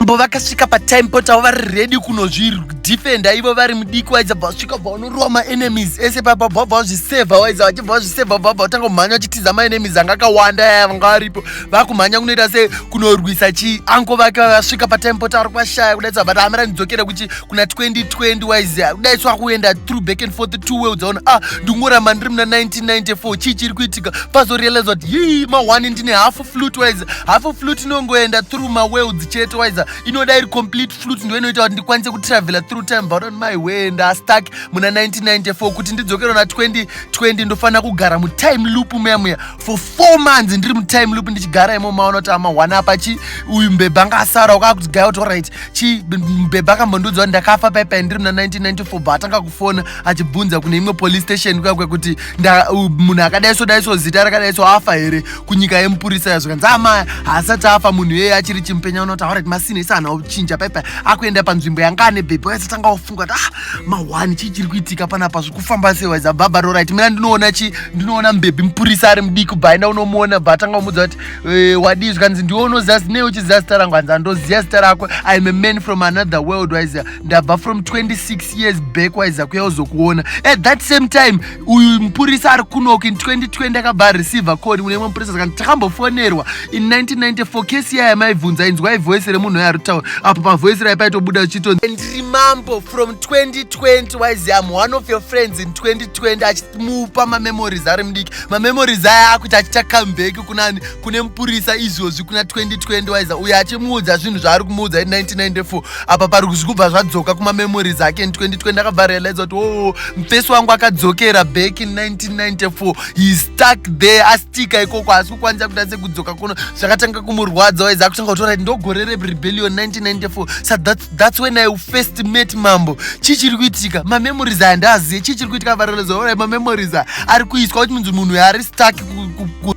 Mambo vakasvika patime pot avo vari ready kunozvidefenda ivo vari mudiki waidza bva vasvika bva vanorowa maenemies ese papa bva bva vazvisevha waidza vachibva vazvisevha bva bva vatanga kumhanya vachitiza maenemies anga akawanda yaya vanga varipo vakumhanya kunoita se kunorwisa chi anko vake vavasvika patime pot vari kwashaya kudai tsabata amira ndidzokere kuchi kuna 2020 waizi kudai so akuenda through back and forth two way udzaona ah ndingoramba ndiri muna 1994 chii chiri kuitika pazorealize kuti yii ma one ndine half flute waiza hafu flute inongoenda through maworlds chete waiza inoda iri complete flute ndo inoita kuti ndikwanise kutravela through time but on my way ndastuck muna 1994 kuti ndidzokere na 2020 ndofanira kugara mutime loop muya muya for four months ndiri mutime loop ndichigara imo maona kuti amahwana apa chi uyu mbebha anga asara wakaa kuti gaya kuti orit chi mbebha akambondiudza kuti ndakafa paipai ndiri muna 1994 but atanga kufona achibvunza kune imwe police station kuya kwekuti munhu akadai so dai so zita rakadai so afa here kunyika yemupurisa yazvo kanzi amaya haasati afa munhu iyeye achiri chimpenya unotaura kuti masina isi anhu auchinja paipai akuenda panzvimbo yanga ane bhebhi waisatanga wafunga kuti ah mahwani chii chiri kuitika panapa zviri kufamba sei waiza baba rorit mina ndinoona chi ndinoona mbhebhi mupurisa ari mudiki bva enda unomuona bva atanga umudza kuti eh, wadii zvikanzi ndiwe unoziva zinei uchiziva zita rangu hanzi andoziva zita rako iam a man from another world waiziva ndabva from 26 years back waiza kuya uzokuona at that same time uyu mupurisa ari kunok in 2020 akabva areceive call une mwe mupurisa sakani takambofonerwa in 1994 kesi yaya maibvunza inzwai voice remunhu oyo ari kutaura apo pavoice rai paitobuda uchito ndiri mambo from 2020 waizi am one of your friends in 2020 achimupa mamemories ari mudiki mamemories aya akuti achita comeback kunani kune mupurisa izvozvi kuna 2020 waiza uyo achimuudza zvinhu zvaari kumuudza in 1994 apa pari kuzikubva zvadzoka kumamemories ake in 2020 akabva realize kuti oo oh, mfesi wangu akadzokera back in 1994 he stuck there astika ikoko haasi kukwanisa kuita sekudzoka kuno zvakatanga kumurwadza waiza akutanga kutora kuti ndogore rerebellion 1994 sa that's, that's when i first met mambo chii chiri kuitika mamemories aya ndaaziye chii chiri kuitika varealize orai mamemories aya ari kuiswa kuti munzi munhu yaari stuck ku, ku, ku.